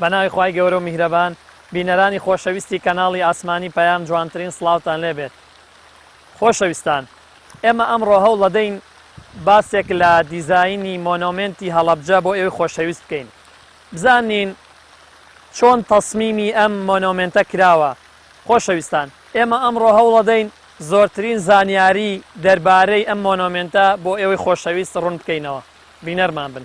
بەناوی خی گەورە و میهرەبان بینەرانی خۆشەویستی کەناڵی ئاسمانی پەیام جوانترین سلااوان لێبێت خۆشەویستان ئێمە ئەمڕۆ هەوڵ لەدەین باسێک لە دیزایانی مۆنۆمنتی هەڵەبجە بۆ ئێوەی خۆشەویست بکەین بزانین چۆن تەسمیمی ئەم مۆنۆمێنتە کراوە. خۆشەویستان، ئێمە ئەمڕۆ هەوڵەدەین زۆرترین زانیاری دەربارەی ئەم مۆنۆمێنتە بۆ ئێوەی خۆشەویست ڕوون بکەینەوە. بینەرمان بن.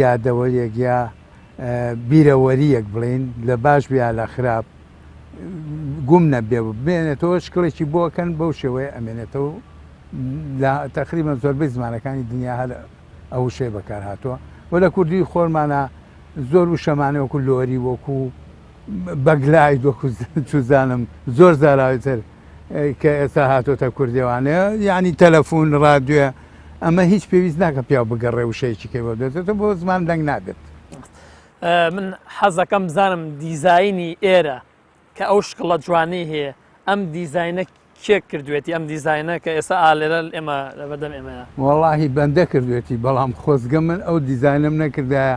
یادەوەریەک یا بیرەوەریەک بڵێین لە باش بێ لە خراپ گوم نەبێ بێنێتەوە شکڵێکی بۆکەن بەو شێوەیە ئەمێنێتەوە لە تەقریبە زۆربەی زمانەکانی دنیا هەر ئەو شێ بەکار هاتووە و لە کوردی خۆرمانە زۆر و شەمانە وەکو لۆری وەکو بەگلای دۆکوزانم زۆر زاراوی تر کە ئێستا هاتۆتە کوردێوانێ یعنی تەلەفۆن ڕادێ ئەمە هیچ پێویست ناکە پیا بگەڕێ وشەیەکی کەەوە دێتێتە بۆ زمان دەنگ نابێت من حەزەکەم بزانم دیزایانی ئێرە کە ئەو شکڵە جوانی هەیە ئەم دیزینە کێک کردوێتی ئەم دیزینە کە ئێستا ئالێرە ئێمە لە بەدەم ئێمەیە وەڵی بەندە کردوێتی بەڵام خۆزگە من ئەو دیزینم نەکردایە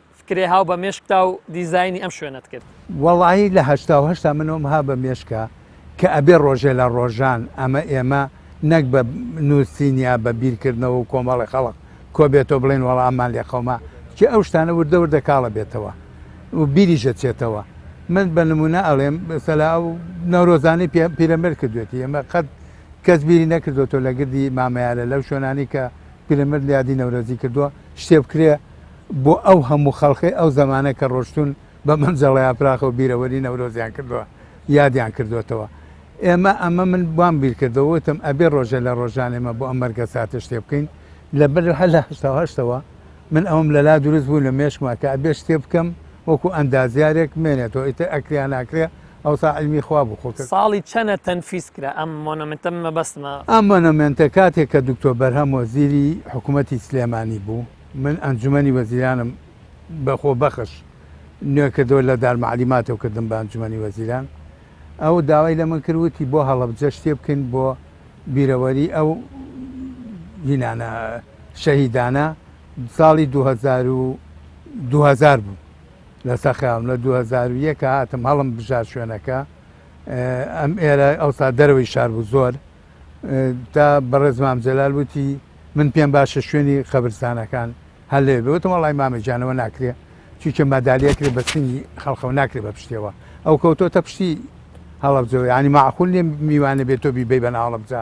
فکرێ هاو بە مێشکتا و دیزاینی ئەم شوێنەت کرد؟ وەڵایی لە هەشتا و هەشتا منۆم ها بە مێشکا کە ئەبێ ڕۆژێ لە ڕۆژان ئەمە ئێمە نەک بە نووسین یا بە بیرکردنەوە و کۆمەڵی خەڵک کۆبێتەوە بڵێن وەڵا ئەممان لێ قەوما، چی ئەو شتانە وردە وردە کاڵە بێتەوە و بیریش ئەچێتەوە. من بە نموونە ئەڵێم سەلا ئەو نەورۆزانەی پێ پیرەمێرد کردوێتی ئێمە قەت کەس بیری نەکردۆتەوە لە گردی مامەیارە لەو شوێنانەی کە پیرەمەرد لە یادی نەورۆزی کردووە، شتێ بکرێ بۆ ئەو هەموو خەڵکەی ئەو زەمانە کە ڕۆشتوون بە مەنجەڵە یاپراخەوە بیرەوەری نەورۆزیان کردووە، یادیان کردۆتەوە. ئێمە ئەمە من وام بیر کردەوە وتم ئەبێ ڕۆژێ لە ڕۆژان ئێمە بۆ ئەم مەرگەساتە شتێ بکەین. لە بەر هەر لە هەشتا و هەشت ەوە من ئەوەم لە لا دروست بوو لە مێشکما کە ئەبێ شتێ بکەم وەکوو ئەندازیارێک بمێنێتەوە ئیتر ئەکرێ یا ناکرێ ئەوسا عیلمی خوا بوو خۆ کە. ساڵی چەنە تەنفیس کرا ئەم مۆنۆمێنتە من مەبەستمە. ئەم مۆنۆمێنتە کاتێک کە دکتۆر بەرهەم وەزیری حکوومەتی سلێمانی بوو من ئەنجوومەنی وەزیرانم بە خۆبەخش نوێ کردەوە لە دارمعلیماتەوە کردم بە ئەنجوومەنی وەزیران ئەو داوای لە من کرد وتی بۆ هەڵەبجە شتێ بکەین بۆ بیرەوەری ئەو ینانە شەهیدانە ساڵی دوو هەزار و دوو هەزار بوو لەسەر خەیاڵم لە دوو هەزار و یەک کە هاتم هەڵم بژار شوێنەکە اه، ئەم ئێرە ئەوسا دەرەوەی شار بوو زۆر اه، تا بەڕێز مام جەلال وتی من پێم باشە شوێنی خەبرستانەکان هەر لێ بێ وتم وەڵای مامە گیانەوە ناکرێ چونکە مەدالیە کرێ بە سنگی خەڵقەوە ناکرێ بە پشتێەوە ئەو کەوتۆتە پشتی هەڵەبجەوە ینی معقول نیە میوانە بێت تۆ بیبەی بە ناوەڵەبجە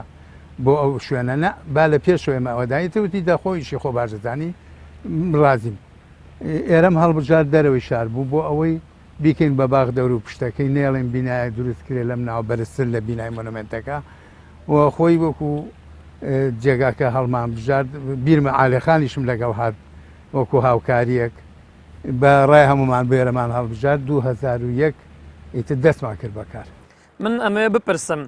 بۆ ئەو شوێنە نە با لە پێشەوەی مەوەدایتەوتی دەخۆیشی خۆ باشدەزانی ڕازیم ئێرەم هەڵبژارد دەرەوەی شار بوو بۆ ئەوەی بیکەین بە باخ دەور و پشتەکەی نێڵێن بینایە دروست کرێ لەم ناو بەرزتر لە بینای مۆنمنتەکە و خۆی وەکو جێگاکە هەڵمان بژارد بیرمە عالەخانیشم لەگەڵ هاات وەکو هاوکاریەک بە ڕای هەمومان بێرەمان هەڵبژار 2001 ئیتر دەستمان کرد بەکار من ئەمەوێ بپرسم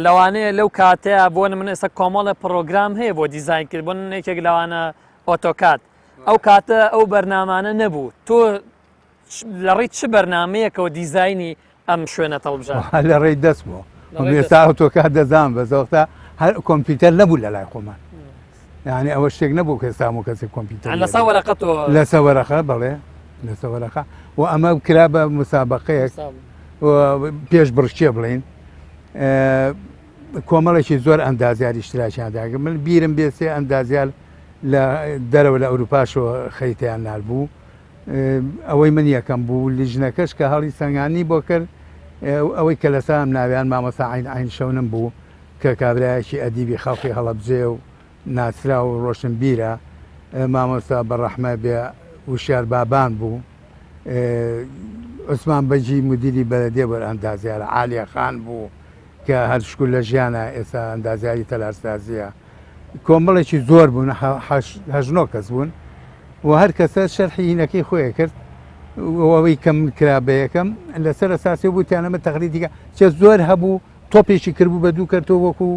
لەوانەیە لەو کاتەیە بۆن من ئێستا کۆمەڵە پرۆگرام هەیە بۆ دیزین کرد بۆن یەکێک لەوانە ئۆتۆکات ئەو کاتە ئەو بەرنامانە نەبوو تۆ لە ڕیت چ بەرنمەیەکەوە دیزایانی ئەم شوێنە تەڵبژە لە ڕێی دەست بۆ ئێستا ئەوتۆکە دەزان بەزۆختا هەر کۆمپیوتەر نەبوو لە لای خۆمان یعنی ئەوە شتێک نەبوو کە ئێستا و کەسی کۆمپیوتەر لە ساوەرەقە تۆ لە سەوەرەخە بڵێ لە سەوەرەخە و ئەمە کرا بە مسابقەیەک پێش بڕچێ بڵین کۆمەڵێکی زۆر ئەندازیار ئیشتراکیان دا من بیرم بێ سێ ئەندازیار لە دەرەوە لە ئەوروپاشەوە خەریتیان نار بوو ئەوەی من یەکەم بوو لیژنەکەش کە هەڵی سەنگانی بۆ کرد ئەوەی کە لە سام ناویان مامەسا عین عین شەونم بوو کە کابراایەکی ئەدیبی خەڵقی هەڵەبجێ و ناسرا و ڕۆشن بیرە مامۆستا بەڕەحمە بێ وشار بابان بوو عوسمان بەجی مدیری بەرەدێ بەر ئەندازیارە عالیە خان بوو کە هەر شکور لە ژیانا ئێستا ئەندازیاری تەلارسازییە کۆمەڵێکی زۆر بوون هەژنۆ کەس بوون و هەر کەسە شەرحی هینەکەی خۆیە کرد ئەوەی کەم کرا بە یەکەم لەسەر ساسی بوتیانەمە تەخری دیکە چە زۆر هەبوو تۆپێکی کردبوو بە دوو کەرتۆ وەکو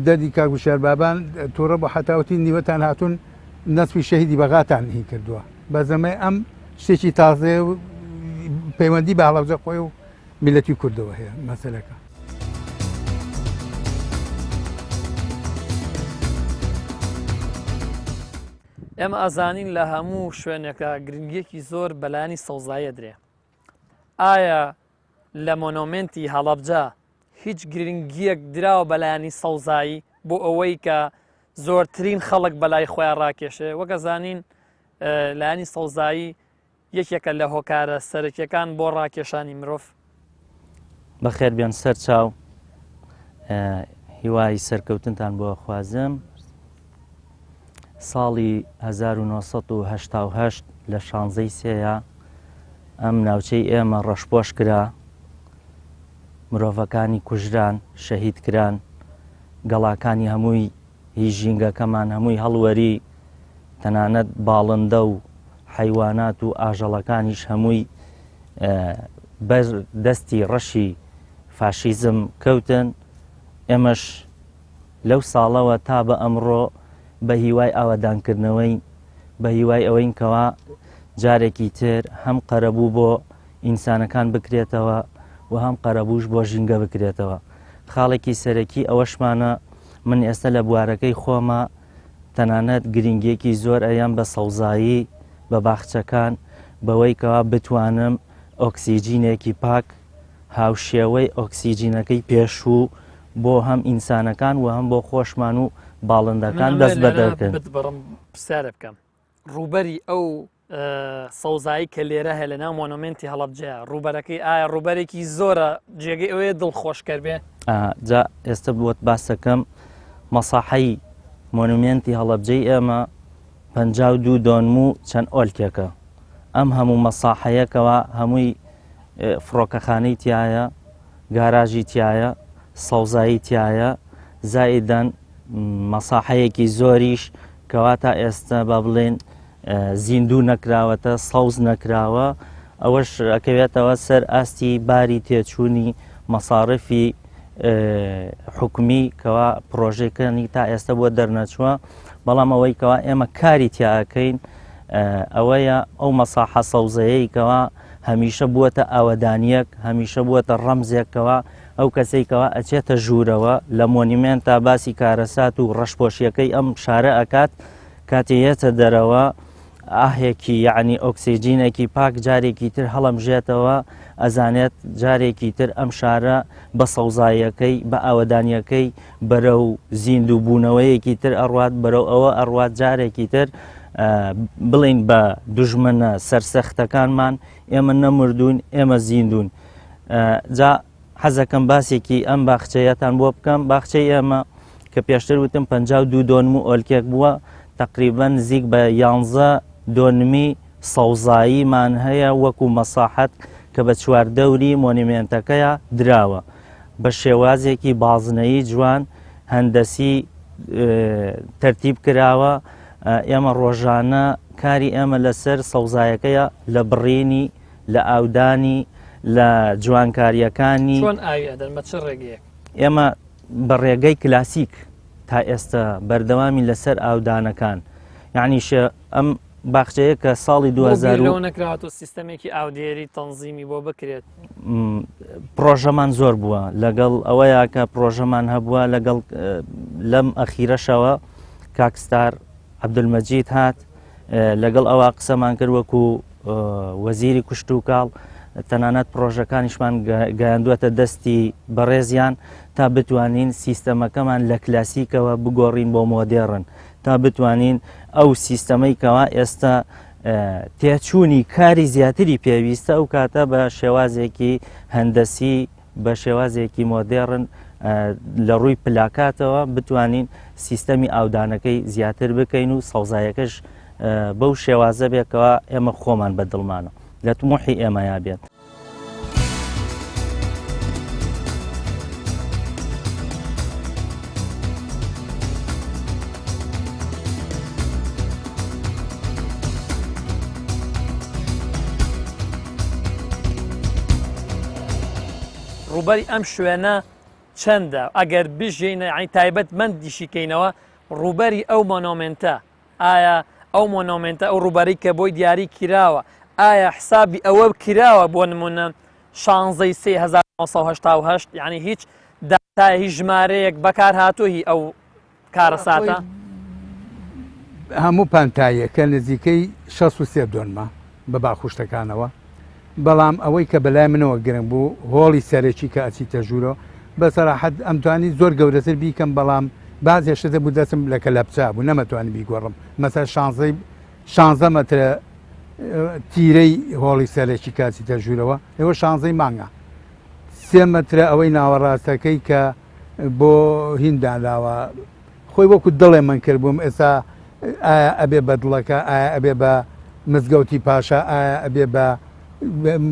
دەدی کاگوشار بابان تووڕە بۆ حتاوتی نیوەتان هاتوون نەسوی شەهیدی بەغاتان هی کردووە بە زەمە ئەم شتێکی تازێ پەیوەندی بە هەڵەبجە خۆی و میلەتی کوردەوە هەیە مەسەلەکە. ئێمە ئەزانین لە هەموو شوێنێکە گرنگیەکی زۆر بەلانی سەوزایە درێ ئایا لە مۆنۆمنتی هەڵەبجە هیچ گرنگیەک دراوە بەلانی سەوزایی بۆ ئەوەی کە زۆرترین خەڵک بەلای خۆیان ڕاکێشێ وەگە زانین لایانی سەوزایی یەکێکە لە هۆکارە سەرەکیەکان بۆ ڕاکێشانی مرۆڤ. بەخێر بێن سەر چاو هیوای سەرکەوتنتان بۆ خوازم ساڵی 1970 لە شانزەی سێە ئەم ناوچەی ئێمە ڕەشپۆش کرا مرۆڤەکانی کوژران شەهید کران گەڵاکانی هەمووی هی ژینگەکەمان هەمووی هەڵوەری، تەنانەت باڵندە و حەیوانات و ئاژەڵەکانیش هەمووی بەر دەستی ڕەشی فاشیزم کەوتن ئێمەش لەو ساڵەوە تا بە ئەمڕۆ بە هیوای ئاوادانکردنەوەی بە هیوای ئەوەین کەوا جارێکی تر هەم قەرەبوو بۆ ئینسانەکان بکرێتەوە و هەم قەرەبووش بۆ ژینگە بکرێتەوە. خاڵێکی سەرەکی ئەوەشمانە من ئێستا لە بوارەکەی خۆما تەنانەت گرینگیەکی زۆر ئەیەم بە سەوزایی، بە باخچەکان بەوەی کەوا بتوانم ئۆکسیجینێکی پاک هاوشێوەی ئۆکسیجینەکەی پێشوو بۆ هەم ئینسانەکان و هەم بۆ خۆشمان و باڵندەکان دەست بەدەرکەن. بەڕم پرسیارە بکەم ڕووبەری ئەو سەوزایی کە لێرە هەیە لەناو مۆنۆمنتی هەڵەبجەیە ڕوبەرەکەی ئایا ڕوبەرێکی زۆرە جێگەی ئەوەیە دڵ خۆشکەر بێ جا ئێستا بووت باسەکەم مەساحەی مۆنومنتی هەڵەبجەی ئێمە پ دوو دۆنم و چەند ئۆلکێکە ئەم هەموو مەساحەیەکەوە هەمووی فڕۆکەخانەی تایە گاراژی تایە سەوزایی تایە زایدەن مەساحەیەکی زۆریش کەوا تا ئێستا با بڵێن زیندوو نەکراوەتە سەوز نەکراوە ئەوەش ئەکەوێتەوە سەر ئاستی باری تێچوونی مەساڕفی حکومی کەوا پرۆژەکانی تا ئێستا بۆ دەرنەچووە بەڵام ئەوەی کەوا ئێمە کاری تیاکەین ئەوەیە ئەو مەساحە سەوزەیەی کەوا هەمیشە بووەتە ئاوەدانیەک هەمیشە بووەتە ڕەمزێکەوە ئەو کەسێکەوە ئەچێتە ژوورەوە لە مۆنیمێن تا باسی کارەسات و ڕەشپۆشیەکەی ئەم شارە ئەکات کاتێ یەتە دەرەوە ئاهێکی یعنی ئۆکسسیجینێکی پاک جارێکی تر هەڵمژێتەوە ئەزانێت جارێکی تر ئەم شارە بە سەوزایەکەی بە ئاوەدانیەکەی بەرە و زیندوو بوونەوەیەکی تر ئەڕات بەرەو ئەوە ئەڕات جارێکی تر بڵین بە دژمنە سەرسەختەکانمان ئێمە نەمردوون ئێمە زیندون جا حەزەکەم باسێکی ئەم باخچەیەتان بۆ بکەم باخچەی ئێمە کە پێشتر وتم پ دوو دۆنم و ئۆلکێک بووە تقریبا نزیک بە یانزە دۆنمی سەوزاییمان هەیە وەکو مەساحەت کە بە چواردەوری مۆنیمێنتەکەیە دراوە بە شێوازێکی بازنەیی جوان هەندەسی تەرتیب کراوە ئێمە ڕۆژانە کاری ئێمە لەسەر سەوزایەکەیە لە بڕینی لە ئاودانی لە جوانکاریەکانی چۆن ئاوی ئەدەن بە چ ڕێگەیەک ئێمە بە ڕێگەی کلاسیک تا ئێستا بەردەوامی لەسەر ئاودانەکان یعنی شێ ئەم باخچەیە کە ساڵی 2000 نەکراوەەوە سیستەمێکی ئاودێری تەنزیمی بۆ بکرێت پرۆژەمان زۆر بووە لەگەڵ ئەوەیە کە پرۆژەمان هەبووە لەگەڵ لەم ئەخیرەشەوە کاکستار عبدمەجید هات لەگەڵ ئەوە قسەمان کرد وەکو وەزیری کوشت و کاڵ تەنانەت پرۆژەکانیشمان گەیاندوەتە دەستی بەڕێزیان تا بتوانین سیستەمەکەمان لە کلاسیکەوە بگۆڕین بۆ مۆدێڕن تا بتوانین ئەو سیستەمەی کەوا ئێستا تێچوونی کاری زیاتری پێویستە ئەو کاتە بە شێوازێکی هەندەسی بە شێوازێکی مۆدێڕن لە ڕووی پلاکاتەوە بتوانین سیستەمی ئاودانەکەی زیاتر بکەین و سەوزایەکەش بەو شێوازە بێکەوە ئێمە خۆمان بە دڵمانە لە تمۆحی ئێمەیا بێت. ڕووبەری ئەم شوێنە چەندە ئەگەر بژین ئەین تایبەت من دیشیکەینەوە ڕووبەری ئەو مۆنۆمنتە ئایا ئەو مۆنۆمنتە ئەو ڕووبەری کە بۆی دیاری کراوە ئایا حسابی ئەوە کراوە بۆ نمونە شانزەی 1970 یعنی هیچ داتای هیچ ژمارەیەک بەکار هاتوهی ئەو کارەساتە. هەموو پانتاییەکە نزیکەی 63 دۆنمە بە باخوشتەکانەوە بەڵام ئەوەی کە بەلای منەوە گرنگ بوو هۆڵی سەرەکی کە ئەچیتە ژوورۆ بە سەراحەت ئەمتوانی زۆر گەورەتر بیکەم بەڵام باز هێشتە بوو دەسم لە کە لەپچا بوو نەمەتوانی بیگۆڕم مەسەر شانزەی شانزە مەترە تیرەی هۆڵی سەرەکی کاچیتە ژوورەوە ئێوە شانزەی مانگە سێ مەترە ئەوەی ناوەڕاستەکەی کە بۆ هین دانراوە خۆی وەکو دڵێ من کردبووم ئێستا ئایا ئەبێ بە دڵەکە ئایا ئەبێ بە مزگەوتی پاشا ئایا ئەبێ بە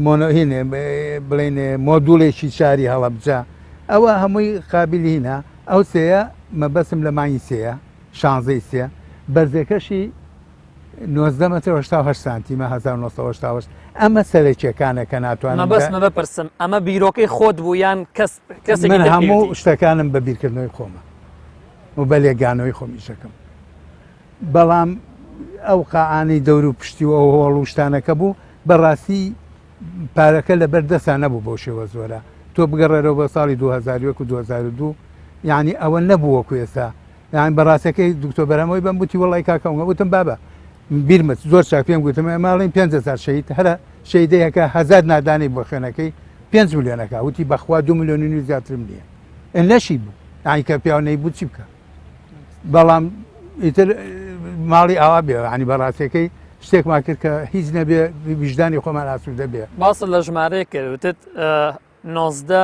مۆنۆهینێ بڵێن مۆدوڵێکی شاری هەڵەبجە ئەوە هەمووی قابلینە ئەو سەیە مەبەسم لە مانگی سەیە شانزەی سێ بەرزەکەشی 19 متر 1970 سانتیمە 1970 ئەمە سەرەکیەکانە کە ناتوانم بەس مە بپرسم ئەمە بیرۆکەی خۆت بوو یان کەس من هەموو شتەکانم بە بیرکردنەوەی خۆمە و بە لێگانەوەی خۆم ئیشەکەم بەڵام ئەو قاعانی دەور و پشتی و ئەو هۆڵ و شتانەکە بوو بەڕاستی پارەکە لە بەر دەستا نەبوو بۆ شێوە زۆرە تۆ بگەڕێرەوە بە ساڵی 2001 و 2002 یعنی ئەوە نەبووەکو ئێستا یان بەڕاستەکەی دکتۆ بەرەمەوەی بم بوتی وڵی کاکەمگە وتم بابە بیرمت زۆر چاک پێم گوتم ماڵین پێنج هزار شەید هەرە شەیدەیەکە هەزار نادانی بۆ خوێنەکەی پێنج ملیۆنەکە وتی بەخوا دو ملیۆنی نوی زیاترم نییە لەشی بوو ئایکە پیاونەی بوو چی بکە بەڵام ئیتر ماڵی ئاوا بێ عنی بەڕاستەکەی شتێکمان کرد کە هیچ نەبێ ویژدانی خۆمان ئاسوودە بێ باس لە ژمارەیە کردوتت نۆزدە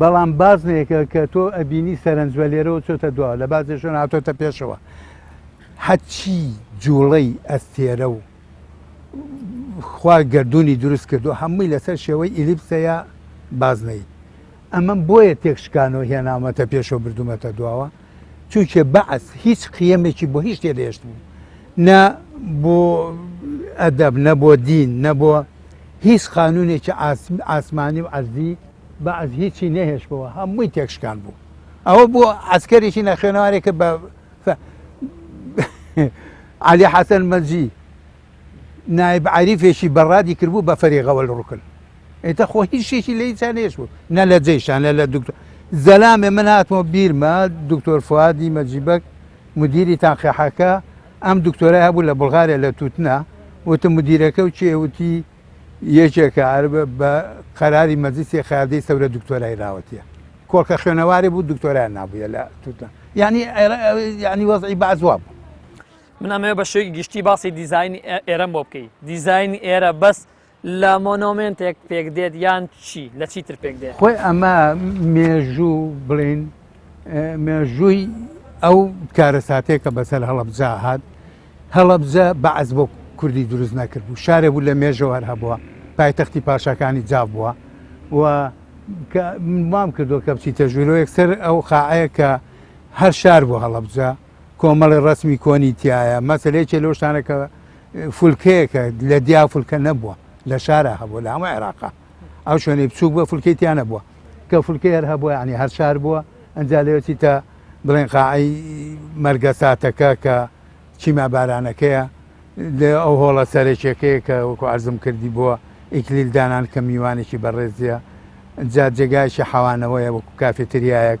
بەڵام بازنەیەکە کە تۆ ئەبینی سەرنجوە لێرەوە چۆتە دوا لە بازێشن هاتۆتە پێشەوە حەچی جوڵەی ئەستێرە و خوا گردردونی دروست کردو هەمووی لەسەر شێوەی ئیلیپسەیە بازنەی ئەمەم بۆیە تێکشکانەوە هێناومەتە پێشەوە بردومەتە دواوە چونکە بەعس هیچ قیەمێکی بۆ هیچ نەهێشت بوو نە بۆ ئەدەب نە بۆ دین نە بۆ هیچ قانونێکی ئاسمانی و عەرزی بەعس هیچی نەهێش بەوە هەمووی تێکشکان بوو ئەوە بۆ عسکەرێکی نەخێنەوارێکە بە علی حەسەن مەجی نایب عەریفێکی بەڕادی کردبوو بە فەریغەوەل ڕوکن ئیتە خۆ هیچ شتێکی لە هیچیان هێش بوو نە لە جەیشان لە لە دکتۆر زەلامێ من هاتمەوە بیرمە دکتۆر فوادی مەجیبەک مدیری تاقیحەکە ئەم دکتۆرای هەبوو لە بڵغارە لە تووتنا وتم مدیرەکە و چێوتی یەکێکە ئەر بە قەراری مەجلسی قیادەی سەورە دکتۆرای راوەتیە کۆڵکە خوێنەواری بوو دکتۆرای نابووە لە تووتنا یعنی یعنی وەزعی بەعزوا بوو من ئەمەوێ بە شێوەی گشتی باسی دیزایانی ئێرەم بۆ بکەی دیزایانی ئێرە بەس لە مۆنۆمنتێک پێک دێت یان چی لە چی تر پێک دێت خۆی ئەمە مێژوو بڵین مێژووی ئەو کارەساتێکە بەسەر هەڵبجا هاات هەڵبجە بەعز بۆ کوردی دروست نەکرد بوو شارێ بوو لە مێژەوەەر هەبووە پایتەختی پاشەکانی جاف بووە و مام کردو کە بچی تەژویرۆ یەکسەر ئەو خاعەیە کە هەر شار بۆ هەڵبجە کۆمەڵی ڕسمی کۆنی تایە مەسل یەکێ لەو شتانە کە فولکەیەکە لە دیا فولکە نەبووە لە شارە هەبوو لە هەمە عێراقا ئەو شوێنەی بچوک بە فولکەی تیا نەبووە کە فولکەی هەر هەبووە عنی هەر شار بووە ئەجا لەوێتی تا بڵێن قاعی مەرگە ساتەکە کە چیما بارانەکەیە لێ ئەو هۆڵە سەرێکێکەیە کە وەکو ئارزم کردی بووە ئیکلیل دانان کە میوانێکی بەڕێزیە جا جێگایشی حەوانەوەیە وەکو کافێتریایەک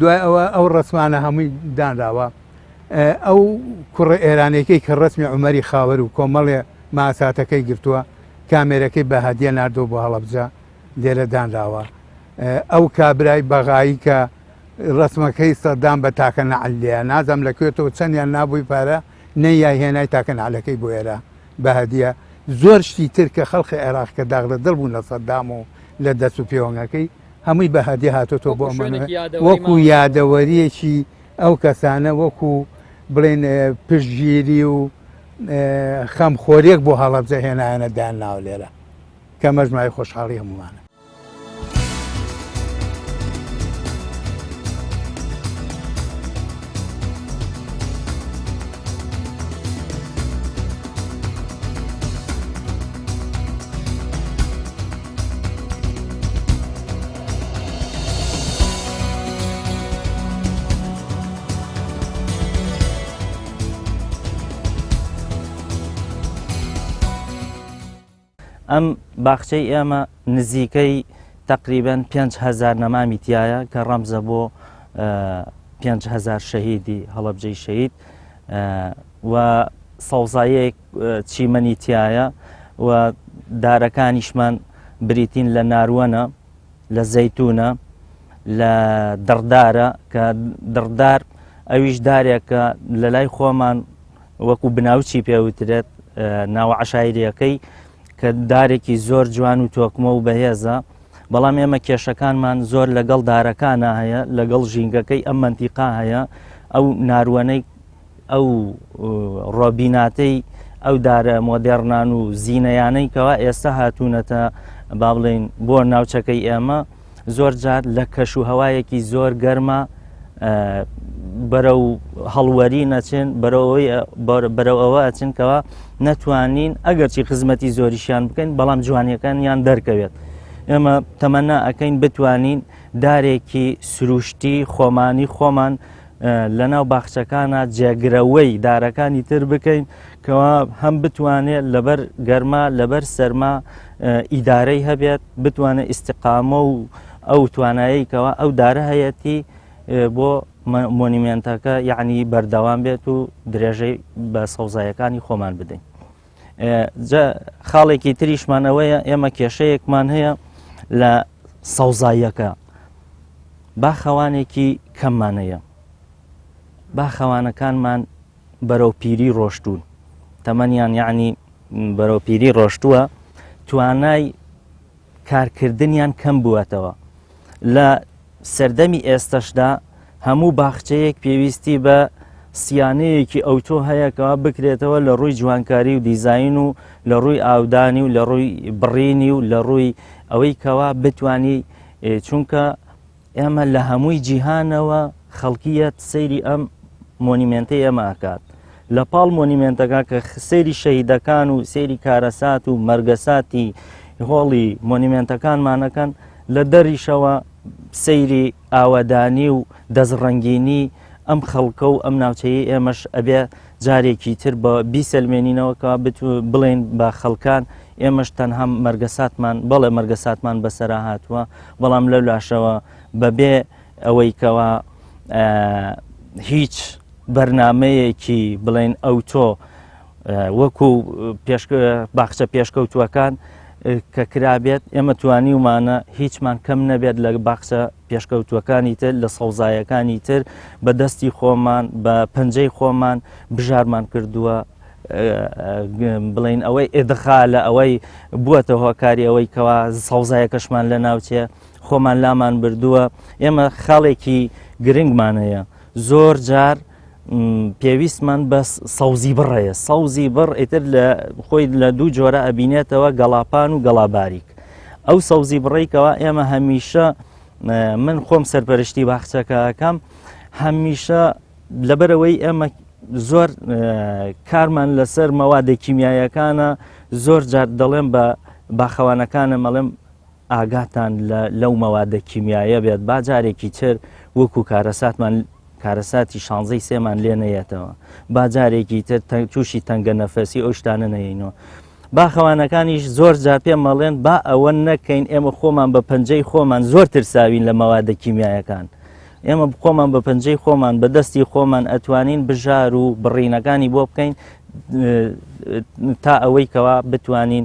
دوای ئەوە ئەو ڕسمانە هەمووی دانراوە ئەو کوڕە ئێرانەکەی کە ڕسمی عمەری خاوەر و کۆمەڵێ ماساتەکەی گرتووە کامێرەکەی بە هەدیە نردۆ بۆ هەڵەبجە لێرە دانراوە ئەو کابرای بەغایی کە ڕسمەکەی سەدان بە تاکە نەعلەیە نازەم لە کوێتەوە چەندیان نابووی پارە نەیای هێنای تاکە نەعلەکەی بۆ ئێرە بە هەدیە زۆر شتی تر کە خەڵقی عێراق کە داغ لە دڵ بوون لە سەدام و لە دەست و پێوەنگەکەی هەمووی بە هەدی هاتۆتەوە بۆ ئەمە وەکو یادەوەریەکی ئەو کەسانە وەکو بڵێن پشتگیری و خەمخۆریەک بۆ هەڵەبجە هێنایەنە دان ناو لێرە کە مەژمای خۆشحاڵی هەمووانە ئەم باخچەی ئێمە نزیکەی تقریبن 5هزار نەمامی تایە کە ڕەمزە بۆ 5هزار شەهیدی هەڵبجەی شەید و سەوزایەک چیمەنی تایە و دارەکانیشمان بریتین لە ناروەنە لە زەیتونە لە دڕدارە کە دڕدار ئەویش دارێکە لە لای خۆمان وەکو بناوچی پێوترێت ناوە عشاعریەکەی کە دارێکی زۆر جوان و تۆکمە و بەهێزە بەڵام ئێمە کێشەکانمان زۆر لەگەڵ دارەکانە هەیە لەگەڵ ژینگەکەی ئەم منتیقا هەیە ئەو ناروانەی ئەو ڕۆبیناتەی ئەو دارە مۆدێڕنان و زیینەیانەی کەوا ئێستا هاتوونەتە با بڵین بۆ ناوچەکەی ئێمە زۆر جار لە کەش و هەوایەکی زۆر گەرمە بەرە و هەڵوەری نەچێن بەرەو ئەوە ئەچنکەوە نەتوانین ئەگەرچی خزمەتی زۆریشیان بکەین بەڵام جوانیەکان یان دەرکەوێت ئێمە تەمەنا ئەەکەین بتوانین دارێکی سروشتی خۆمانی خۆمان لەناو باخچەکانە جێگرەوەی دارەکانی تر بکەین کەوا هەم بتوانێت لەبەر گەرما لەبەر سەرما ئیدارەی هەبێت بتوانێت ئیسیقامە و ئەو توانایی کەوا ئەو دارە هەیەتی بۆ مۆنیمنتەکە یعنی بەردەوام بێت و درێژەی بە سەوزایەکانی خۆمان بدەین. خاڵێکی تریشمان ئەوەیە ئێمە کێشەیەکمان هەیە لە سەوزاییەکە باخەوانێکی کەممانەیە باخەوانەکانمان بەرەو پیری ڕۆشتون تەمەنیان یعنی بەرەو پیری ڕۆشتووە توانای کارکردنیان کەم بووەتەوە لە سەردەمی ئێستەشدا هەموو باخچەیەک پێویستی بە سیانەیەکی ئەوتۆ هەیەکەوە بکرێتەوە لە ڕووی جوانکاری و دیزین و لە ڕووی ئاودانی و لە ڕووی بڕینی و لە ڕووی ئەوەی کەوا بتانی چونکە ئێمە لە هەمووی جیهانەوە خەڵکیەت سەیری ئەم مۆنیمنتی ئێمە ئەکات لە پاڵ مۆنیمنتەکە کە سەیری شەهیدەکان و سەیری کارەسات و مەرگەساتی هۆڵی مۆنیمنتەکانمانەکەن لە دەریشەوە سەیری ئاوادانی و دەستڕەنگینی ئەم خەڵکە و ئەم ناوچەیە ئێمەش ئەبێ جارێکی تر بە بیسەلمێنینەوەکە بڵێن بە خەڵکان ئێمەش تەنها مەرگەساتمان بەڵێ مەرگەساتمان بەسەرا هاتووە بەڵام لەو لاشەوە بەبێ ئەوەی کەەوە هیچ بەرنمەیەکی بڵێن ئەوتۆ وەکو باخچە پێشکەوتووەکان کە کرابێت ئێمە توانی ومانە هیچمان کەم نەبێت لە باخچە پێشکەوتووەکانی تر لە سەوزایەکانی تر بە دەستی خۆمان بە پەنجەی خۆمان بژارمان کردووە بڵین ئەوەی ئێدخا لە ئەوەی بووەتە هۆکاری ئەوەی کەوا سەوزایەکەشمان لە ناوچێ خۆمان لامان بردووە ئێمە خاڵێکی گرنگمانەیە زۆر جار پێویستمان بە سەوزی بڕەیە سەوزی بڕ ئیتر لە خۆی لە دوو جۆرە ئەبینێتەوە گەڵاپان و گەڵاباریک ئەو سەوزی بڕێکەوە ئێمە هەمیشە من خۆم سەرپەرشتی باخچەکەکەم هەمیشە لەبەرەوەی ئێمە زۆر کارمان لەسەر مەوادە کیمیایەکانە زۆر جار دەڵێم بە باخەوانەکانە مەڵێم ئاگاتان لە لەو مەوادە کیمیایە بێت با جارێکی تر وەکو کارەساتمان کارەساتی شانزەی سێمان لێ نەیەتەوە با جارێکی تر تووشی تەنگە نەفەسی ئەو شتانە نەینەوە باخەوانەکانیش زۆر جا پێ مەڵێن با ئەوە نەکەین ئێمە خۆمان بە پەنجەی خۆمان زۆر ترساوین لە مەوادە کیمیایەکان ئێمە خۆمان بە پەنجەی خۆمان بە دەستی خۆمان ئەتوانین بژار و بڕینەکانی بۆ بکەین تا ئەوەی کەوا بتوانین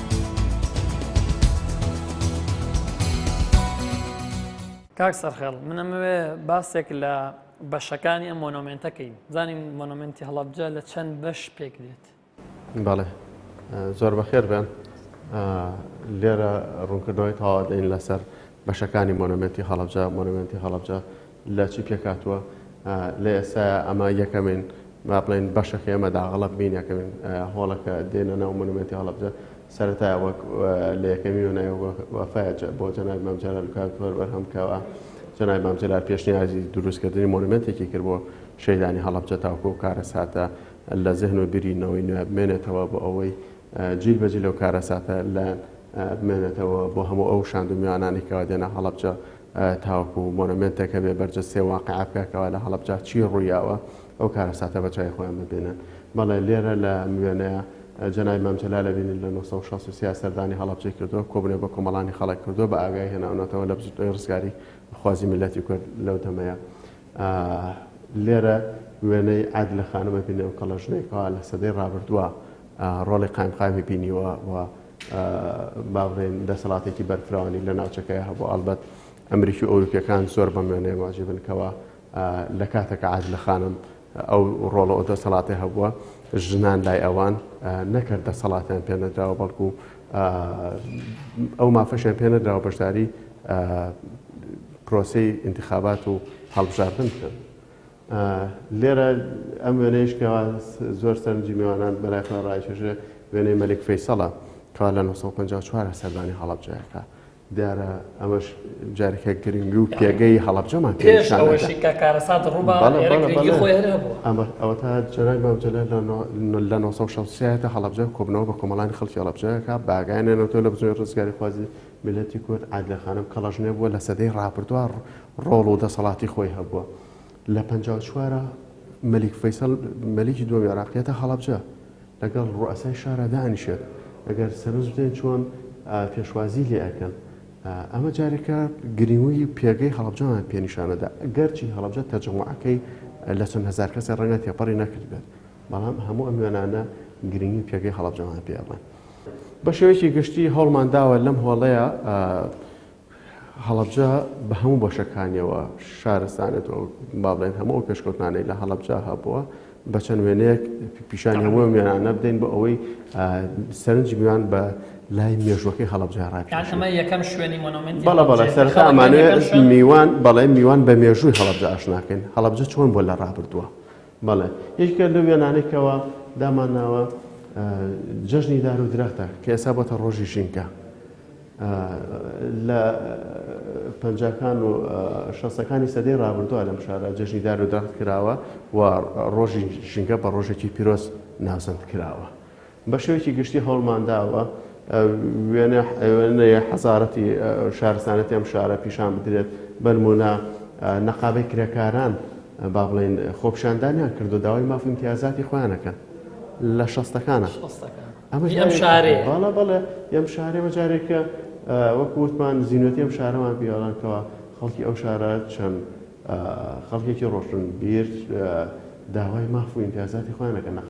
کاک سەرخێڵ من ئەمەوێ باسێک لە بەشەکانی ئەم مۆنۆمنتەکەین زانین مۆنۆمنتی هەڵبجە لە چەند بەش پێک دێت بەڵێ زۆر بەخێر بێن لێرە ڕوونکردنەوەی تاوادەین لەسەر بەشەکانی مۆنۆمێنتی هەڵەبجە، Monument Halabja، لە چی پێکهاتووە؟ لە ئێستایا ئەمە یەکەمین با بڵێین بەشەکەی ئەمە داغەڵەق بین یەکەمین هۆڵە کە دێنە ناو مۆنۆمێنتی هەڵەبجە سەرەتایە وەک لە یەکەمی وێنای وەفایە بۆ جەنابی مام جەلال کاکوهەر بەرهەم کراوە جەنابی مام جەلال پێشنیازی دروستکردنی مۆنومنتێکی کرد بۆ شەیدانی هەڵەبجە تاوکۆ و کارەساتە لە زهن و بیری نەوەی نوێ بمێنێتەوە بۆ ئەوەی جیل بە جیل و کارەساتە لە بمێنێتەوە بۆ هەموو ئەو شاند و میوانانەی کەوا دێنە هەڵەبجە تاوەکو مۆنۆمێنتێکە بێ بەرجەستەی واقیع بکا کەوا لە هەڵەبجە چی ڕوویاوە ئەو کارەساتە بە چای خۆیان ببینن بەڵێ لێرە لە ئەم وێنەیە جەنابی مام جەلال ئەبینین لە نۆ سەد و شەست و سێ سەردانی هەڵەبجەی کردووە کۆبوونێ بە کۆمەڵانی خەڵک کردووە بە ئاگایی هێناونەتەوە لە بزووتنەوەی ڕزگاری خوازی میللەتی کورد لەو دەمەیە لێرە وێنەی عادلە خانم ئەبینێ ئەو کەڵەژنەی کەوا لە سەدەی ڕابردووە ڕۆڵی قایمقامی بینیوە و با بڵێین دەسەڵاتێکی بەرفراوانی لە ناوچەکەی هەبوو ئەلبەت ئەمریکی و ئەوروپیەکان زۆر بە مێنێ واجی بنکەوە لە کاتەکە عاد لە خانم ئەو ڕۆڵە ئەو دەسەڵاتی هەبووە ژنان لای ئەوان نەکرد دەسەڵاتیان پێ نەدراوە بەڵکو ئەو مافەشیان پێ نەدراوە بەشداری پرۆسی انتخابات و هەڵبژاردن بکەن لێرە ئەم وێنەیش کە زۆر سەرنجی میوانان بەلای خۆیان ڕایکێشێ وێنەی مەلیک فەیسەڵە کەوا لە 1954 سەردانی هەڵەبجەکە دیارە ئەمەش جارێکە گرنگ و پێگەی هەڵەبجەمان پێش ئەوەشی کە کارەسات ڕووبا ئەمە ئەوە تا جەرای مامجلە لە 1960 هەڵەبجە کۆبنەوە بە کۆمەڵانی خەڵکی هەڵەبجەکە باگانێنەوە لە بزۆی ڕزگاری خوازی میلەتی کورد عادلەخانم کەڵەژنێ بووە لە سەدەی ڕاپردووە ڕۆڵ و دەسەڵاتی خۆی هەبووە لە پەنجا و چوارا مەلیک فەیسەڵ مەلیکی دووەمی عێراق دێتە هەڵەبجە لەگەڵ ڕوئەسای شارا دانیشێت ئەگەر سەرنج بدەین چۆن پێشوازی لێ ئەکەن ئەمە جارێکە گرینگی پێگەی هەڵبجەمان پێنیشانەدا گەرچی هەڵبجە تەجموعەکەی لە چەند هزار کەسی ڕەنگە تێپەڕی نەکردبێت بەڵام هەموو ئەم وێنانە گرنگی پێگەی هەڵبجەمان پێڵێن بە شێوەیەکی گشتی هەوڵمان داوە لەم هۆڵەیە هەڵەبجە بە هەموو بەشەکانیەوە شارستانێت و با بڵێن هەموو ئەو پێشکەوتنانەی لە هەڵەبجە هەبووە بە چەند وێنەیەک پیشانی هەموو میانانە بدەین بۆ ئەوەی سەرنج میوان بە لای مێژوەکەی هەڵبجە ڕاکەمە سەرتا ئەمانێ میوان بەڵێ میوان بە مێژووی هەڵبجە ئاشناکەین هەڵبجە چۆن بۆ لە ڕابردووە بەڵێ یەکە لە وێنانێکەوە دامانناوە جەژنی دار و درەختە کە ئێسا بۆتە ڕۆژی ژینکە لە پەنجاکان و شەستەکانی سەدەی ڕابردووە لەم شارە جەژنی دار و دەخت کراوە و ڕۆژی ژینگە بە ڕۆژێکی پیرۆز ناوزەند کراوە بە شێوەیەکی گشتی هەوڵمانداوە وێنەیە حەزارەتی شارستانەتی ئەم شارە پیشان بدرێت بەرمونە نەقابەی کرێکاران با بڵێن خۆپشاندانیان کردو داوای مافی امتیازاتی خۆیانەکەن لە شەستەکانە ئەمەش ئەم شارێ بەڵە بەڵێ ئەم شارێ بەجارێکە وەک وتمان زیینەتی ئەم شارەمان پیاڵانکەوە خەڵکی ئەو شارە چەند خەڵکێکی ڕۆشن بیر داوای ماف و ئیمتیازاتی خۆیانەکە نەخ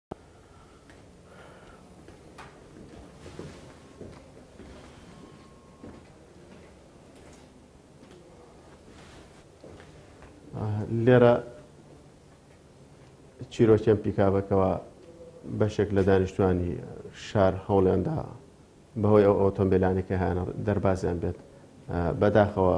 لێرە چیرۆکیان پیکابەکەەوە بەشێک لە دانیشتوانی شار هەوڵێندا بەهۆی ئەو ئۆتۆمبیلانێکی هەیانە دەربازیان بێت بەداخەوە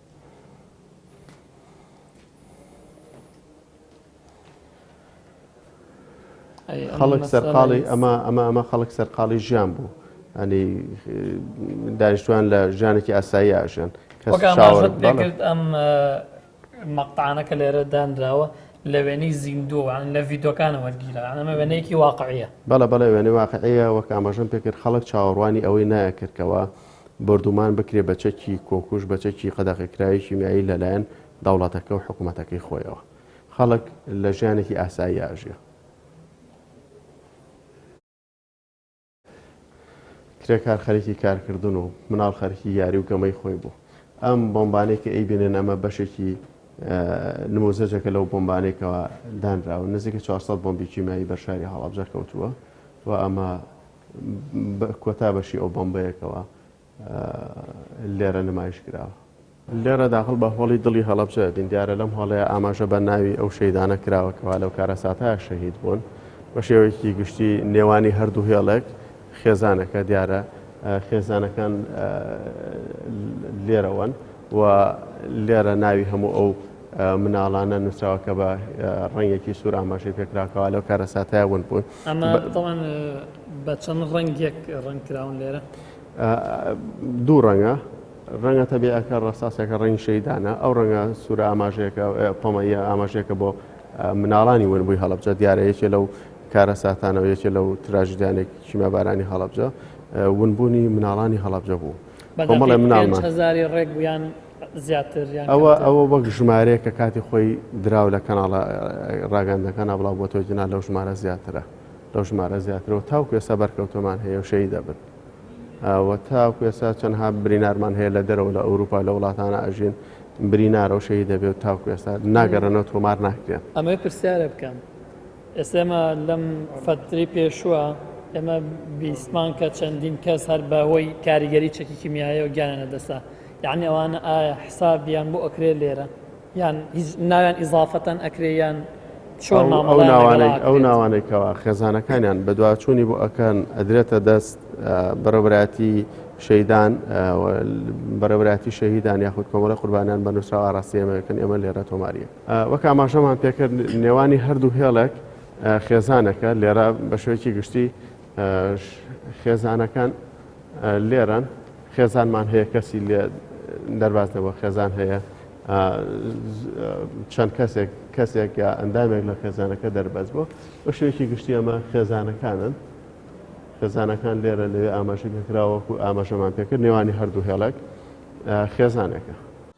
خەڵک سەرقاڵی ئەمە ئەمە ئەمە خەڵک سەرقاڵی ژیان بوو ئەنی دانیشتوان لە ژیانێکی ئاسایی ئاژیان کەس وەک چاوەڕ- ئاماژەت بەڵێ. پێکرد ئەم اه، مەقتەعانە کە لێرە دانراوە لە وێنەی زیندوو یان لە ڤیدۆکانە وەرگیرا یان ئەمە وێنەیەکی واقعیە بەڵە بەڵێ وێنەی واقعەیە وەک ئاماژەم پێکرد خەڵک چاوەڕوانی ئەوەی نایەکردکەوە بۆردومان بکرێت بە چەکی کۆکوژ بە چەکی قەدەغەکراوی کیمیایی لەلایەن دەوڵەتەکە و حکومەتەکەی خۆیەوە خەڵک لە ژیانێکی ئاسایی ئاژێ کرێکار خەرکی کارکردن و مناڵ خەرکی یاری و گەمەی خۆی بوو ئەم بۆمبانەی کە ئەیبێنێن ئەمە بەشێکی نموزەجەکە لەو بۆمبانێکەوە دانراوە نزیکە 400 بۆمبی کیمایی بەرشاری هەڵابجە کەوتووە و ئەمە بە کۆتا بەشی ئەو بۆمبەیەکەوە لێرە نمایش کراوە. لێرە داخڵ بە هۆڵی دڵی هەڵەبجە دەبین. دیارە لەم هۆڵەیە ئاماژە بە ناوی ئەو شەهیدانە کراوە کەوا لەو کارەساتەیا شەهید بوون. بە شێوەیەکی گشتی نێوانی هەردوو هێڵێک خێزانەکە دیارە خێزانەکان لێرەوەن و لێرە ناوی هەموو ئەو مناڵانە نووسراوە کە بە ڕەنگێکی سوور ئاماژەی پێکراکەوە لەو کارەساتەیا ون بوون. ئەمە تەوان بە چەند ڕەنگێک ڕنگ کراون لێرە دوو ڕەنگە ڕەنگە تەبیعەکە ڕاستاسەکە ڕەنگ شەیدانە ئەو ڕەنگە سوورە ئاماژەیەەکە پەمەیە ئاماژەیەەکە بۆ مناڵانی ونبووی هەڵبجە دیارە یەکێ لەو کارە ساتانەوە یەکێ لەو تراژدانێک کیمە بارانی هەڵبجە ونبوونی مناڵانی هەڵبجە بوو بەڵێ مناڵمان هزاری ڕێک بوویان ئەوە ئەوە وەک ژمارەیە کە کاتی خۆی دراو لە کەناڵە ڕاگەندەکان نابڵاو بۆ تۆی جنا لەو ژمارە زیاترە لەو ژمارە زیاترەوە تاو کوێسا بەرکەوتۆمان هەیە و شەی دەبن وە تا کوێسا چەندها برینارمان هەیە لە دەرەوە لە ئەوروپا لە وڵاتانە ئەژین برینارە و شەی دەبێت تا کوێسا ناگەڕنەوە تۆمار ناکرێن ئەمەی پرسیارە بکەم ئێسێمە لەم فەتری پێشووە ئێمە بیسمان کە چەندین کەس هەر بەهۆی کاریگەری چەکی کیمیایەوە گیانە دەسا یەعنی ئەوانە ئایا حسابیان بۆ ئەکرێ لێرە یان ناویان ئیزافەتەن ئەکرێ یان چۆن ئەو ناوانەی کەوا خێزانەکانیان بەدواچوونی بۆ ئەکەن ئەدرێتە دەست بەڕێبراتی شەیدان بەرەبراتی شەهیدان یاخود کۆمەڵە قوربانیان بە نووسرا ئاراسی ئەمەکەن ئێمە لێرە تۆماریە وەک ئاماژەمان پێکرد نێوانی هەردوو هێڵێک خێزانەکە لێرە بە شوێکی گشتی خێزانەکان لێرەن خێزانمان هەیە کەسی لێ دەرباز نەبووە خێزان هەیە چەند کەسێک کەسێک یا ئەندامێک لە خێزانەکە دەربەز بوو بە شوێکی گشتی ئەمە خێزانەکانن خێزانەکان لێرە لەوێ ئاماژەکە کراوەکو ئاماژەمان پێکرد نێوانی هەردوو هێڵک خێزانەکە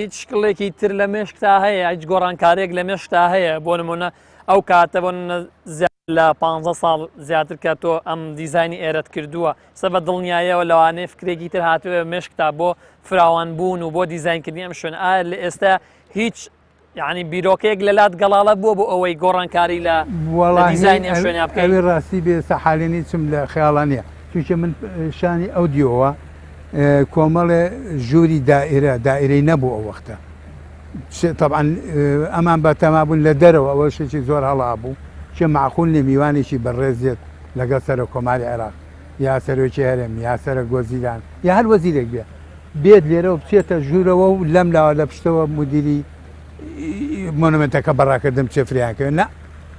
هیچ شکڵێکی تر لە مێشکتا هەیە هیچ گۆڕانکارێک لە مێشکتا هەیە بۆ نمونە ئەو کاتە بۆ لە پ ساڵ زیاتر کە تۆ ئەم دیزانی ئێرەت کردووە سە بە دڵنیایەوە لەوانەیە فکرێکی تر هاتوێ مێشکتا بۆ فراوان بوون و بۆ دیزینکردنی ئەم شوێن ئایا لە ئێستا هیچ یعنی بیرۆکەیەک لە لات گەڵاڵە بووە بۆ ئەوەی گۆڕانکاری لە دیزانی شوێنە بکەوی ڕاستی بێ سەحالێنی چم لە خیاڵانە چونکە من شانی ئەو دیەوە کۆمەڵێ ژووری دائرە دائرەی نەبوو ئەو وەختە تەبان ئەمان بە تەمابوون لە دەرەوە ئەوە شێکی زۆر هەڵا بوو چێ معقول نیە میوانێکی بەڕێزێت لەگەڵ سەرە کۆماری عێراق یا سەرۆکی هەرێم یا سەرە گۆزیران یا هەر وەزیرێک بێ بێت لێرەوە بچێتە ژوورەوە و لەم لاوە لە پشتەوە مدیری مۆنمنتەکە بەڕاکردم چێ فریانکەوێت نە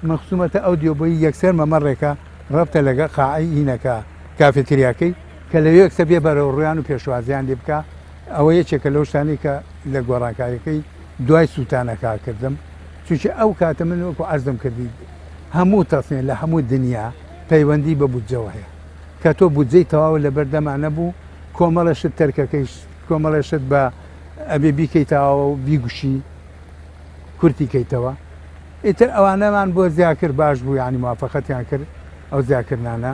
من خسوومەتە ئەو دیۆبی یەکسەر مەمەڕێکە ڕەبتە لەگە قاعی هینەکە کافێتریاکەی کە لە یەک سەبیە بەرەو ڕویان و پێشوازیان لێ بکا ئەوە یەکێکە لەو شتانەی کە لە گۆڕانکاریەکەی دوای سووتانە کار کردم چونکی ئەو کاتە من وەکو عەرزم کردی هەموو تەسنێ لە هەموو دنیا پەیوەندی بە بودجەوە هەیە کە تۆ بودجەی تەواو لە بەردەما نەبوو کۆمەڵە شت تەرکەکەیش کۆمەڵە شت بە ئەبێ بیکەیتەوە و بیگوشی کورتی کەیتەوە ئیتر ئەوانەمان بۆ زیاکرد باش بوو ینی موافقەتیان کرد ئەو زیاکردانە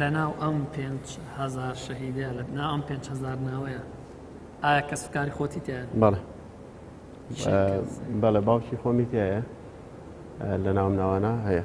لەناو ئەم پێنج هزار شەهیدە لە ناو ئەم پێنج هزار ناوەیە ئایا کەس کاری خۆتی تێ بەڵێ بەڵێ باوکی خۆمی تایە لە ناوم ناوانە هەیە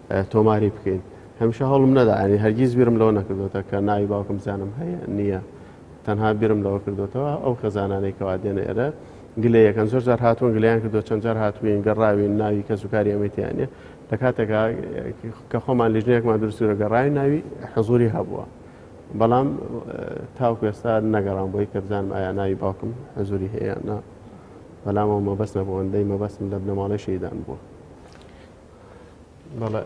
تۆماری بکەین هەمیشە هەڵم نەدا ئەنی هەرگیز بیرم لەوە نەکردوێتە کە ناوی باوکم زانم هەیە نییە تەنها بیرم لەوە کردوێتەوە ئەو خەزانانەی کەوا دێنە ئێرە گلێ یەکەن زۆر جار هاتوون گلیان کردو چەند جار هاتوین گەڕاوین ناوی کەس و کاری ئەمەتیانە لە کاتێکا کە خۆمان لیژنەیەکمان درستورە گەڕاوی ناوی حزوری هەبووە بەڵام تاو کوێستا نەگەڕان بۆی کە بزانم ئایا ناوی باوکم حزوری هەیە نا بەلامەوە مەبەست نەبووەندەی مەبەستم لە بنەماڵی شەیدان بووە بەڵێ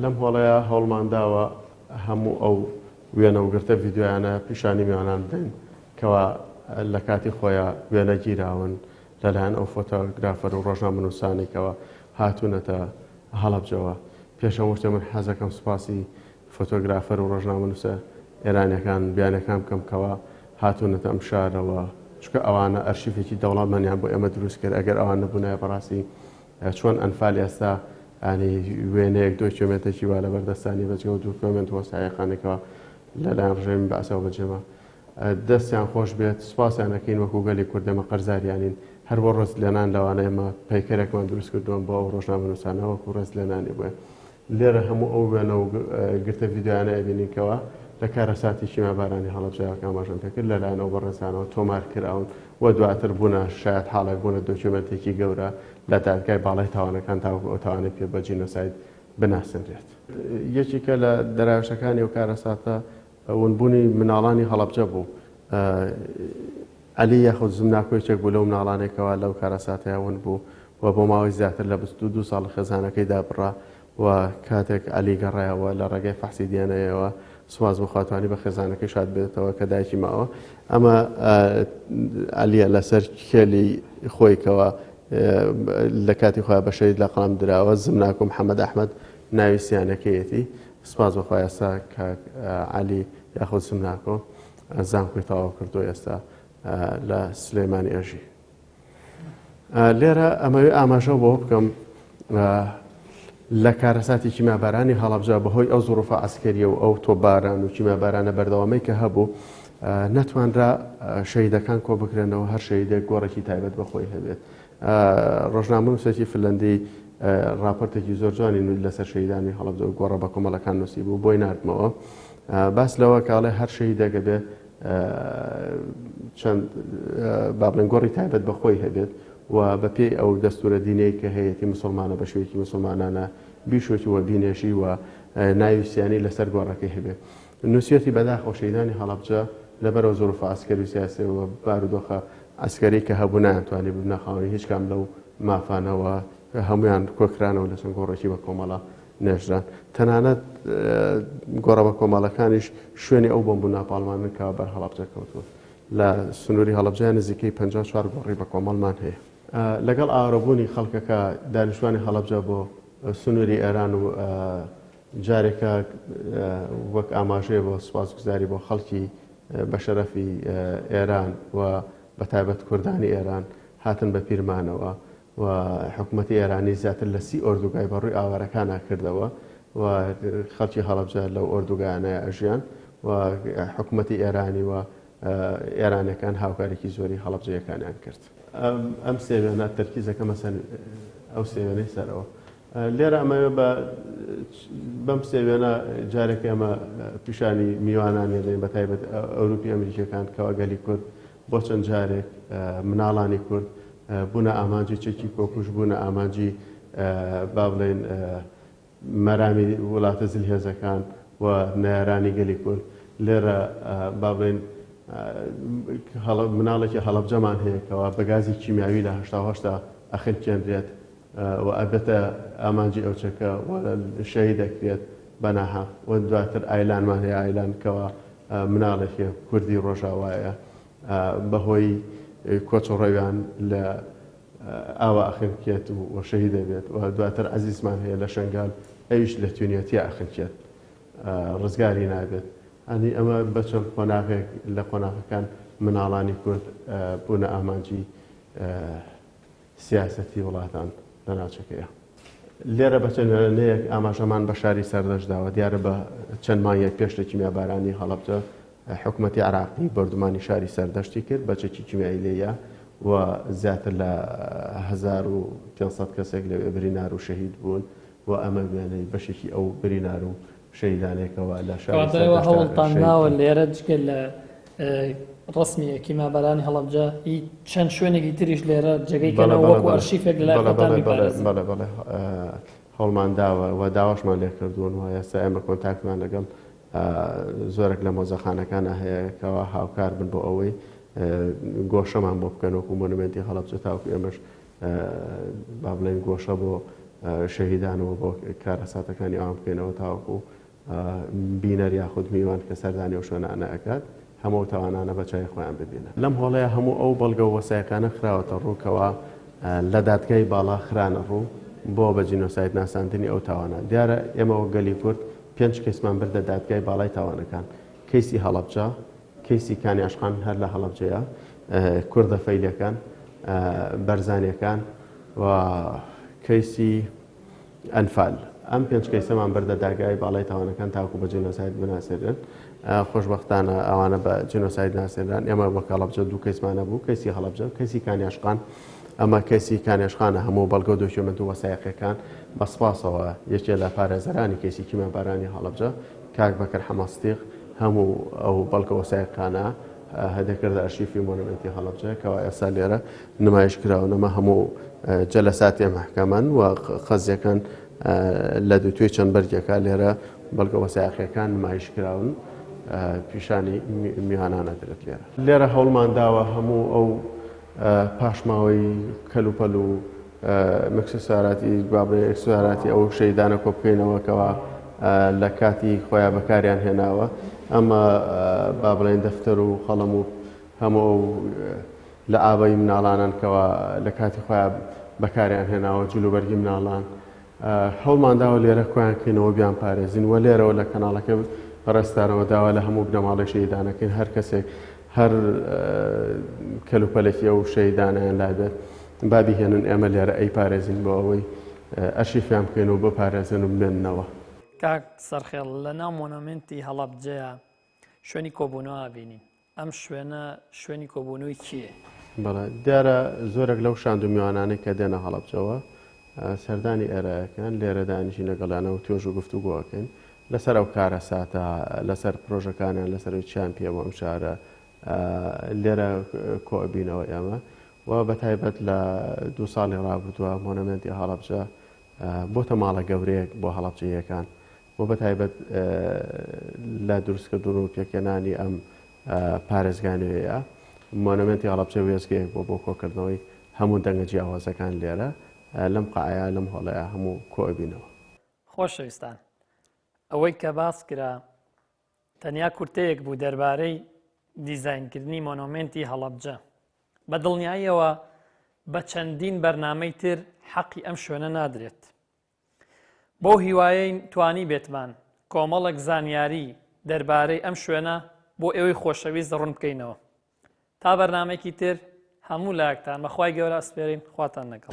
لەم هۆڵەیە هەوڵمان داوە هەموو ئەو وێنە و گرتە ڤیددیویانە پیشانی میوانان بدەین کەوا لە کاتی خۆیان وێنە گیراون لەلایەن ئەو فۆتۆگرافەر و ڕۆژان منووسانێکەوە هاتوونەتە هەڵبجەوە پێشەم وشتێ من حەزەکەم سوپاسی فۆتۆگرافەر و ڕۆژنامە نووسە ئێرانەکان بیانەکان بکەم کەەوە هاتوونەتە ئەم شارەوە چکە ئەوانە ئەرشیفێکی دەوڵەمەنیان بۆ ئێمە دروستکرد ئەگەر ئەوان نەبوونای بەڕاستی چۆن ئەنفال ئێستا ئانی وێنەیەک دۆ کیۆمێنتێکی وا لەبەر دەستانی بەجگەو دوو کۆمێنت وە سایەقانێکەوە لە لایەن ڕژێمی بەعسەوە بەجێما دەستیان خۆش بێت سوپاسیان ئەکەین وەکو گەلی کوردەمە قەرزاریانین هەر بۆ ڕست لەنان لەوانەیە مە پەیکەرێکمان دروست کردووەم بۆ ئەو ڕۆژنامەنووسانەوەکو ڕست لەنانی بووە لێرە هەموو ئەو وێنە و گرتە ڤیدیۆیانە ئەبینین کەوا لە کارەساتی کیمیابارانی هەڵەبجە کە ئاماژەم پێکرد لەلایەن ئەو بەڕێزانەوە تۆمار کراون و دواتر بوونە شایەتحاڵێک بوونە دۆکیۆمێنتێکی گەورە لە دادگای باڵای تاوانەکان تاوەکو ئەو تاوانەی پێ بە جینۆساید بناسێنرێت. یەکێکە لە دەراوشەکانی ئەو کارەساتە ونبوونی مناڵانی هەڵەبجە بوو. عەلی یاخود زمناکۆ یەکێک بوو لەو مناڵانەی کەوا لەو کارەساتەیا ون بوو و بۆ ماوەی زیاتر لە بیست و دوو ساڵ خێزانەکەی دابڕا و کاتێک عەلی گەڕایەوە لە ڕێگای فەحسی دی ئێن ئەیەوە سوپاس بۆ خوا توانی بە خێزانەکەی شاد بێتەوە کە دایکی ماوە. ئەمە عەلیە لەسەر کێلی خۆی کەوا لە کاتی خۆیان بە شەهید لەقەڵەم دراوە، زمناکۆ محەمەد ئەحمەد ناوی سیانەکەیەتی. سپاس بەخوا ئێستا کاک عەلی یاخود سمناکۆ زانکۆی تەواو کردو ئێستا لە سلێمانی ئەژی لێرە ئەمەوێ ئاماژە بۆ بکەم لە کارەساتی کیمابارانی هەڵبجا بەهۆی ئەو زڕفە ئەسکەریە و ئەو تۆباران و کیمابارانە بەردەوامەی کە هەبوو نەتوانرا شەیدەکان کۆ بکرێنەوە هەر شەیدێک گۆڕێکی تایبەت بەخۆی هەبێت ڕۆژنامەنووسێکی فنلەندی ڕاپۆرتێکی زۆر جوانی نووس لەسەر شەهیدانی هەڵەبجە و گۆڕە بەکۆمەڵەکان نووسیبوو بۆی ناردمەوە باس لەوە کاڵێ هەر شەهیدەکە بێ چەند بابلێن گۆڕی تایبەت بەخۆی هەبێت و بە پێی ئەو دەستورە دینەی کە هەیەی مسلمانە بە شوێکی مسلمانانە بیشۆکی وە بینێژی و ناویسیانی لەسەر گۆڕەکەی هەبێت نوسیویەتی بەداخەوە شەهیدانی هەڵەبجە لەبەرئەو زروفە عەسکەری و سیاسیە و بارودۆخە عەسکەری کە هەبوو نایان توانی ببنە خاوەنی هیچ کام لەو مافانە و هەموویان کۆکرانەوە لە چەند گۆڕێکی بە کۆمەڵە نێژران تەنانەت گۆڕە بە کۆمەڵەکانیش شوێنی ئەو بۆمب و ناپاڵمانن کە بەر هەڵەبجە کەوتووە لە سنووری هەڵەبجە نزیکەی 54 گۆڕی بە کۆمەڵمان هەیە لەگەڵ ئاوارەبوونی خەڵکەکە دانیشتوانی هەڵەبجە بۆ سنووری ئێران و جارێکە وەک ئاماژەیە بۆ سوپاسگوزاری بۆ خەڵکی بەشەرەفی ئێران و بەتایبەت کوردانی ئێران هاتن بە پیرمانەوە و حکوومەتی ئێرانی زیاتر لە سی ئۆردوگای بە ڕووی ئاوارەکانە کردەوە و خەڵکی هەڵەبجە لەو ئۆردوگایانە ئەژیان و حکوومەتی ئێرانی و ئێرانەکان هاوکارێکی زۆری هەڵەبجەیەکانیان کرد. ئەم سێوێنە تەرکیزەکەمە سەر ئەو سێوێنەی سەرەوە. لێرە ئەمەوێ بە بەم سێ وێنە جارێک ئێمە پیشانی میوانان دەین بە تایبەت ئەوروپی ئەمریکیەکان کەوا گەلی کورد بۆ چەند جارێک مناڵانی کورد بوونە ئامانجی چەکی کۆکوش بوونە ئامانجی با بڵێن مەرامی وڵاتە زل هێزەکان و نارانی گەلی کورد لێرە با بڵێن مناڵێکی هەڵبجەمان هەیەکەوە بەگازی کیمیاوی لە هەشتاهشتا ئەخلکێنرێت و ئەبێتە ئامانجی ئەو چەکە و شەهید ئەکرێت بە ناهەق و دواتر ئایلانمان هەیە ئایلان کەوا مناڵێکێ کوردی ڕۆژاوایە بەهۆی کۆچ و ڕەویان لە ئاوا ئەخنکێت و شەهید دەبێت و دواتر عزیزمان هەیە لە شنگال ئەویش لە تونەتی ئەخنکێت ڕزگاری نابێت ئەنی ئەمە بەچەند قۆناغێک لە قۆناغەکان مناڵانی کورد بوونە ئامانجی سیاسەتی وڵاتان لە ناوچەکەیە. لێرە بە چەند وێنەیەک ئاماژەمان بە شاری سەردەشت داوە، دیارە بە چەند مانگێک پێش لە کیمیابارانی هەڵەبجە حکومەتی عێراقی بۆردومانی شاری سەردەشتی کرد بە چەکی کیمیایی لێیە و زیاتر لە 1500 کەسێک لەوێ برینار و شەهید بوون و ئەمە وێنەی بەشێکی ئەو برینار و شەهیدانێکەوە لە شاری سەردەشت. کەواتە ئێوە هەوڵتان داوە لێرە جگە لە ڕەسمی کیمابەرانی هەڵەبجە ئی چەند شوێنێکی تریش لێرە جێگەی کەنەوە وەکو ئەرشیفێک لە لای خۆتان بیپارێزن؟ بەڵێ بەڵێ هەوڵمان داوە و داواشمان لێ کردوون و ئێستا ئێمە کۆنتاکتمان لەگەڵ زۆرێک لە مۆزەخانەکانە هەیە کەوا هاوکار بن بۆ ئەوەی گۆشەمان بۆ بکەن وەکو مۆنومێنتی هەڵەبجە تاوەکو ئێمەش با بڵێین گۆشە بۆ شەهیدان و بۆ کارەساتەکانی ئەوان بکەینەوە تاوەکو بینەر یاخود میوان کە سەردانی و شوێنانە ئەکات هەموو تاوانانە بە چای خۆیان ببینە لەم هۆڵەیە هەموو ئەو بەڵگە و وەسایەکانە خراوەتە ڕووکەوە لە دادگای باڵا خرانە ڕوو بۆ بە جینۆساید ناساندنی ئەو تاوانە دیارە ئێمەوە گەلی کورد پێنج کەیسمان بردە دادگای باڵای تاوانەکان کەیسی هەڵەبجە کەیسی کانی ئاشقان هەر لە هەڵەبجەیە کوردە فەیلیەکان بەرزانیەکان و کەیسی ئەنفال ئەم پێنج کەیسەمان بەردە داگای باڵی تاوانەکان تاکو بە جینۆساید بناسێنن خۆشببختانە ئەوانە بە جینۆساید ناسێنران ئێمە بە کاڵبجە دوو کەیسمانە بوو کەسی هەڵبجە کەسی کانیاشقان ئەمە کەسی کانێشخانە هەموو بەڵگە و دۆکیۆمنت و وەسایەقەکان بە سپاسەوە یەکێ لە پارێزەرانی کەسی کیمە بارانی هەڵبجە کاک بەکر حەمە سدیق هەموو ئەو بەڵگە وەسایقانە هەدەکردە ئەرشیفی مۆنومێنتی هەڵەبجە کەوا ئێستا لێرە نمایش کراون ئەمە هەموو جەلەساتێ مەحکەمەن و قەزیەکان لە دوو توێ چەند بەرگێکا لێرە بەڵگە وەسایقیەکان نمایش کراون پیشانی میوانانە درێت لێرە لێرە هەوڵمان داوە هەموو ئەو پاشماوەی کەلوپەل و مکسساراتی بابرێ ئکسساراتی ئەو شەیدانە کۆ بکەینەوە کەوا لە کاتی خۆیان بەکاریان هێناوە ئەمە با بڵێن دەفتەر و قەڵەم و هەموو ئەو لە ئاوەی مناڵانان کەوا لە کاتی خۆیان بەکاریان هێناوە جلوبەرگی مناڵان هەوڵمانداوە لێرە کۆیان کەینەوە بیانپارێزین و لێرەوە لە کەناڵەکە پەرستارەوە داوا لە هەموو بنەماڵەی شەیدانەکەین هەر کەسێک هەر کەلوپەلێکی ئەو شەیدانیان لابێت بابی هێنن ئێمە لێرە ئەی پارێزین بۆ ئەوەی ئەرشیفیان بکەین و بپارێزن و بمێننەوە. کاک سەرخێڵ لە ناو مۆنۆمێنتی هەڵەبجەیە شوێنی کۆبوونەوە ئەبینین. ئەم شوێنە شوێنی کۆبوونەوەی کێیە؟ بەڵێ دیارە زۆرێک لەو شاند و میوانانەی کە دێنە هەڵەبجەوە سەردانی ئێرایەکەن لێرە دانیشین لەگەڵیانەوە توێژ و گفتوگۆ ئەکەین لەسەر ئەو کارەساتە لەسەر پرۆژەکانیان لەسەروی چیان پێ بۆ ئەم شارە لێرە کۆبینەوە ئێمە و بە تایبەت لە دوو ساڵی ڕابردووە مۆنەمنتی هەڵەبجە بۆتە ماڵە گەورەیەک بۆ هەڵەبجەیەکان و بە تایبەت لە دروستکردن و پێکهێنانی ئەم پارێزگا نوێیە، مۆنۆمێنتی هەڵەبجە وێستگەیەک بووە بۆ کۆکردنەوەی هەموو دەنگە جیاوازەکان لێرە، لەم قەعەیە، لەم هۆڵەیە هەموو کۆ ئەبینەوە. خۆشەویستان، ئەوەی کە باس کرا تەنیا کورتەیەک بوو دەربارەی دیزاینکردنی مۆنۆمێنتی هەڵەبجە. بە دڵنیاییەوە بە چەندین بەرنامەی تر حەقی ئەم شوێنە نادرێت. بەو هیوایەین توانیبێتمان کۆمەڵێک زانیاری دەربارەی ئەم شوێنە بۆ ئێوەی خۆشەویست ڕوون بکەینەوە تا بەرنمەێکی تر هەموو لاکتان بەخوای گەورە ئەسپێرین خواتان لەگەڵ.